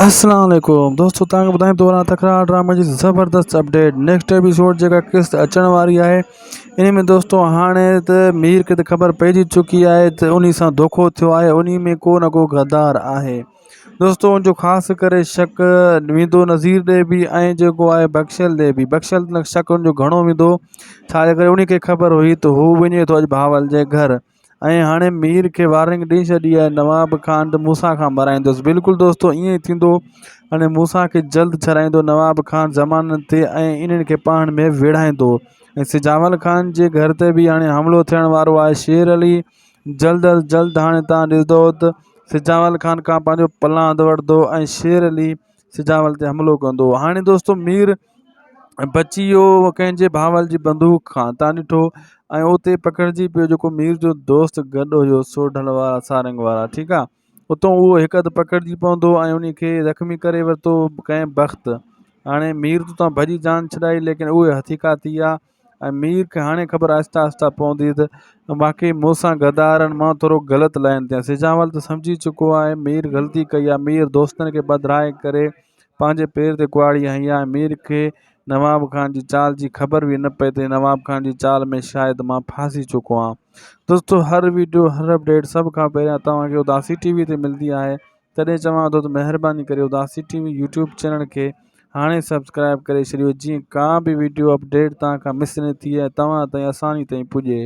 السلام عليڪم دوستو توهان کي ٻڌائيندو وڃان تڪرار ڊرامي جي زبردست اپڊيٽ نيڪسٽ ايپيسوڊ جيڪا قسط اچڻ واري آهي ان ۾ دوستو هاڻي ته مير کي ته خبر پئجي چڪي آهي ته انهي سان ڌوکو ٿيو آهي انهي ۾ ڪو نه ڪو غدار آهي دوستو ان جو خاص ڪري شڪ ويندو نظير ڏي به ۽ جيڪو آهي بخشل ڏي به بخشل شڪ ان جو گهڻو ويندو ڇاجي ڪري انهي کي خبر هئي ته هو وڃي ٿو اڄ بهاول جي گهر ۽ هاڻي مير کي وارننگ ڏئي ڇڏي آهي نواب خان ته مون سان کان مرايندس بلڪل دوستو ائين ئي ٿيندو هاڻي مون سان کي جلد ڇڏائيندو نواب خان زمانن تي ۽ انهن کي پاڻ ۾ ويڙهائيندو ۽ سجاول خان جي گهر تي به هاڻي حملو ٿيڻ وارو آهي شير علي جلد از جلد هاڻي تان ڏسندو ته سجاول خان کان پنهنجو پلاند وٺندو ۽ شير علي سجاول تي حملو ڪندو هاڻي دوستو مير بچي ويو هو ڪنهن جي ڀانول جي بندوق کان تان ڏٺو ۽ اتي ئي پکڙجي پيو جيڪو مير جو دوست گڏ هيو سو ڍل وارا سارنگ وارا ٺيڪ آ اتو اهو هڪ اڌ پکڙجي پوندو ۽ انهي کي زخمي ڪري ورتو ڪنهن بخت هاڻي مير تان ڀڄي جان ڇڏائي ليڪن اهي هٿي ڪا ٿي آ ۽ مير کي هاڻي خبر آهستي آهستي پوندي ته واقعي مون سان غدارن مان ٿورو غلط لائين تي آهي. سجاول ته سمجهي چڪو آهي مير غلطي ڪئي آهي. مير دوستن کي پڌرائي ڪري پنهنجي پير تي ڪهاڙي هنئي آهي. مير کي نواب خان جي چال جي خبر به نه پئي ته نواب خان جي چال ۾ شايد مان ڦاسي چڪو آهيان. دوستو هر ويڊيو هر اپڊيٽ سڀ کان پهريان توهان کي اداسي ٽي وي تي ملندي آهي. تڏهن چوان ٿو ته مهرباني ڪري اداسي ٽي وي يوٽيوب چينل کي هاڻي سبسڪرائيب ڪري ڇڏيو جيئن ڪا به وڊيو اپڊيٽ توهان کان مس نه ٿئي ۽ توهان تائين آساني تائين پڄي.